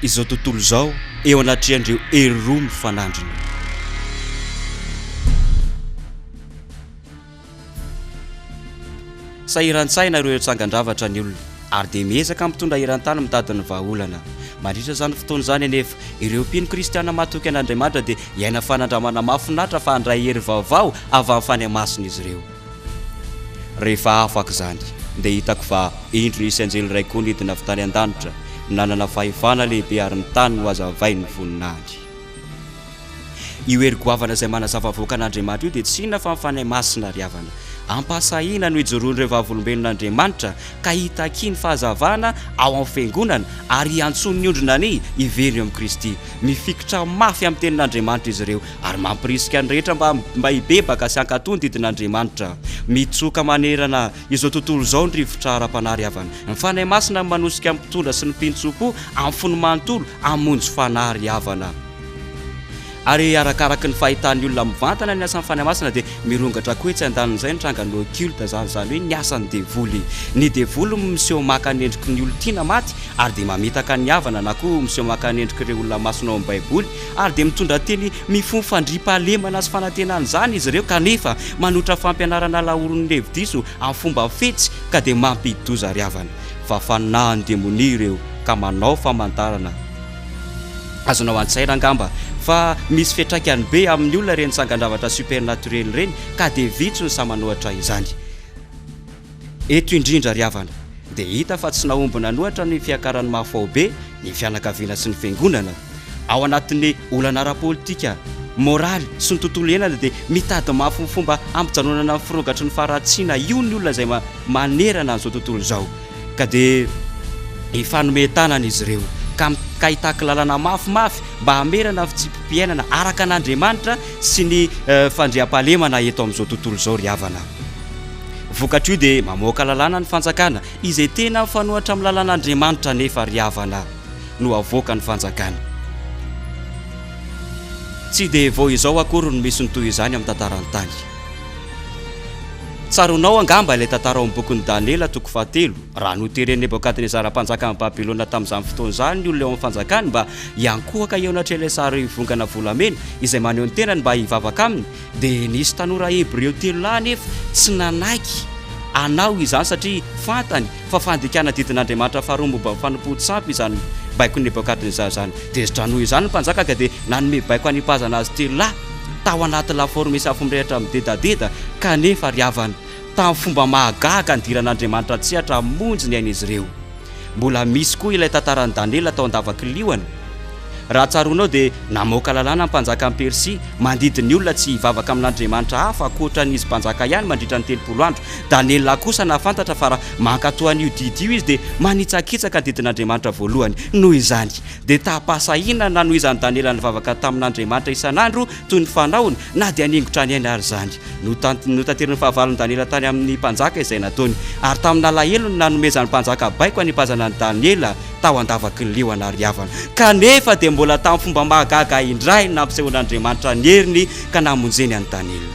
izao tontolo izao eo anatrehan'ireo hery roa mifanandrina. Sahiran-tsaina ireo tsangan-javatra ny olona ary dia miezaka mitondra eran-tany mitady ny vahaolana. Mandritra izany fotoana izany anefa, ireo mpino kristiana mahatoky an'Andriamanitra dia hiaina fanandramana mahafinaritra fa handray hery vaovao avy amin'ny fanahy masina izy ireo. Rehefa afaka izany, dia hitako fa indro nisy anjely iray koa nidina avy tany an-danitra, nanana fahefana lehibe ary ny tany nohazavainy voninaly. Io hery goavana izay manazava avoaka an'Andriamanitra io dia tsy inona fa ny Fanahy Masina ry havana. Ampahasahiana no ijoroan'ireo vavolombelon'Andriamanitra ka hitakia ny fahazavana ao amin'ny Fiangonana ary hiantsoany ny ondriny anie hiverina eo amin'i Kristy. Mifikitra mafy amin'ny Tenin'Andriamanitra izy ireo Ary mampirisika ny rehetra mba mba hibebaka sy hankatò ny didin'Andriamanitra. Mitsoka manerana izao tontolo izao ny rivotra ara-panahy ry havana. Ny Fanahy Masina no manosika ny mpitondra sy ny mpintsompo amin'ny fony manontolo hamonjy fanahy ry havana. Ary arakaraky ny fahitan'ny olona mivantana ny asan'ny Fanahy Masina dia mirongatra koa etsy andanin'izay ny trangan'ny occulte izany izany hoe ny asan'ny devoly. Ny devoly miseho maka ny endriky ny olon-tiana maty ary dia mamitaka ny havana na koa miseho maka ny endrik'ireo olona masina ao amin'ny Baiboly ary dia mitondra teny mifono fandriampahalemana sy fanantenana izany izy ireo kanefa manotra fampianarana laoron'ny hevi-diso amin'ny fomba fetsy ka dia mampidi-doza ry havana fa fanahin'ny demonia ireo ka manao famantarana azonao an-tsaina angamba fa misy fiantraikany be amin'ny olona ireny sangan-javatra supernaturel ireny ka dia vitsy ny sahy manohatra izany. Eto indrindra ry havana dia hita fa tsy nahomby nanohatra ny fiakaran'ny mahafaobe ny fianakaviana sy ny fiangonana. Ao anatin'ny olana ara-politika, moraly sy ny tontolo iainana dia mitady mafy ny fomba hampijanonana ny firogatry ny faharatsiana io ny olona izay manerana an'izao tontolo izao ka dia hifanome tanana izy ireo ka mikaitakilalana mafimafy mba hamerana ny fitsipi-piainana araka an'Andriamanitra sy ny fandriampahalemana eto amin'izao tontolo izao ry havana. Vokatr'io dia mamoaka lalàna ny fanjakana izay tena mifanohatra amin'ny lalàn'Andriamanitra nefa ry havana no avoaka ny fanjakana. Tsy dia vao izao akory no misy ny toy izany amin'ny tantaran'ny tany. Tsaroanao angamba ilay tantara ao amin'ny bokin'i Daniela toko fahatelo, raha noteren'i Nebokadnezara mpanjakan'i Babylona tamin'izany fotoana izany ny olona eo amin'ny fanjakany mba hiankohoka eo anatrehan'ilay sarivongana volamena izay maneho ny tenany mba hivavaka aminy, Dia nisy tanora hebreo telo lahy anefa tsy nanaiky hanao izany, satria fantany fa fandikana didin'Andriamanitra faharoa momba ny fanompoan tsy ampy izany baikon'i Nebokadnezara izany. Tezitra noho izany ny mpanjaka ka dia nanome baiko hanipazana azy telo lahy tao anaty lafaoro misy afo mirehitra midedadeda, kanefa ry havana, tamin'ny fomba mahagaga nidiran'Andriamanitra an-tsehatra hamonjy ny ain'izy ireo. Mbola misy koa ilay tantaran'i Daniela tao an-davakiliona. Raha tsaroanao dia namoaka lalàna ny mpanjakan'i Persia mandidy ny olona tsy hivavaka amin'andriamanitra hafa ankoatra ny izy mpanjaka ihany mandritra ny telopolo andro. Daniela kosa nahafantatra fa raha mankatò an'io didy io izy dia manitsakitsaka ny didin'Andriamanitra voalohany. Noho izany, dia tam-pahasahiana nanohizan'i Daniela nivavaka tamin'Andriamanitra isan'andro toy ny fanaony Na dia nihaingo hatrany aina ary izany, notaterin'i fahavalon'i Daniela tany amin'ny mpanjaka izay nataony, ary tamin'ny alahelony nanomezan'ny mpanjaka baiko hanipazana an'i Daniela tao an-davaky ny liona ary havana. Kanefa dia mbola tamin'ny fomba mahagaga indray no nampisehoan'Andriamanitra ny heriny ka namonjeny an'i Daniela.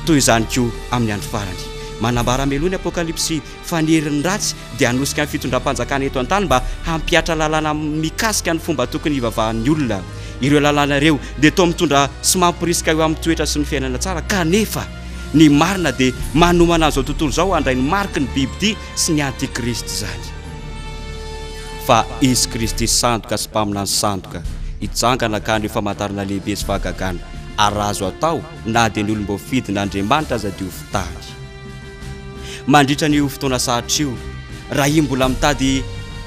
Toy izany koa amin'ny andro farany. Manambara meloha ny Apokalypsy fa ny herin'ny ratsy dia hanosika ny fitondram-panjakana eto an-tany mba hampihatra lalàna mikasika ny fomba tokony hivavahan'ny olona. Ireo lalàna ireo dia toa mitondra sy mamporisika eo amin'ny toetra sy ny fiainana tsara kanefa ny marina dia manomana an'izao tontolo izao handray ny mariky ny bibidia sy ny antikristy izany. Fa izy Kristy sandoka sy mpaminany sandoka hijangana ka haneo famantarana lehibe sy fahagagana ary raha azo atao na dia ny olom-boafidin' Andriamanitra aza diovy tany. Mandritra an'io fotoana sarotra io, raha iny mbola mitady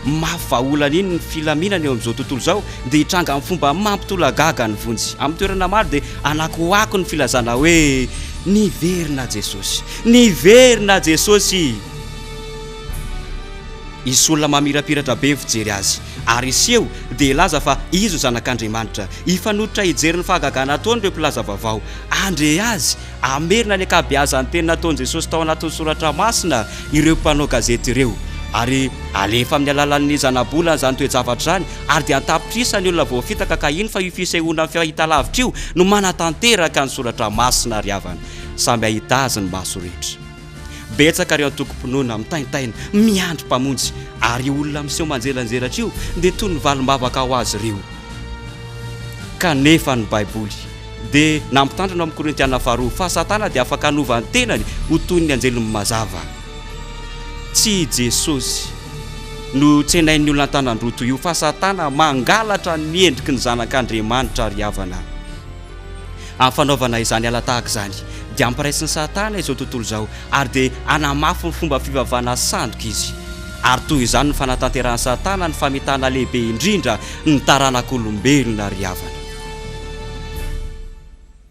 mafy vahaolana iny ny filaminana eo amin'izao tontolo izao, dia hitranga amin'ny fomba mampitolagaga ny vonjy. Amin'ny toerana maro dia anakoako ny filazana hoe, Niverina Jesosy! Niverina Jesosy! Hisy olona mamirapiratra be ny fijery azy, ary hiseho dia hilaza fa izy no Zanak'Andriamanitra. Hifanototra hijery ny fahagagana ataon'ireo mpilaza vaovao. Handre azy! Hamerina ny ankabeazan'ny teny nataon'i Jesosy tao anatin'ny soratra masina ireo mpanao gazety ireo, ary halefa amin'ny alalan'ny zanabolana izany toe-javatra izany, ary dia an-tapitrisa ny olona voafitaka, ka iny fa io fisehoana amin'ny fahitalavitra io no manatanteraka ny soratra masina ry havana, samy hahita azy ny maso rehetra. Betsaka ireo antokom-pinoana mitaintaina miandry Mpamonjy, ary io olona miseho manjelanjelatra io dia toy ny valim-bavaka ho azy ireo. Kanefa ny Baiboly dia nampitandrina ao amin'ny Korintiana Faharoa fa Satana dia afaka hanova ny tenany ho toy ny anjeliny mazava. Tsy i Jesosy no tsenain'ny olona an-tanan-droa toy io, fa Satana mangalatra ny endriky ny Zanak'Andriamanitra ry havana. Amin'ny fanaovana izany ala tahaka izany, dia ampiraisin'i Satana izao tontolo izao, ary dia hanamafy ny fomba fivavahana sandoka izy. Ary toy izany no fanatanterahan'i Satana ny famitana lehibe indrindra ny taranak'olombelona ry havana.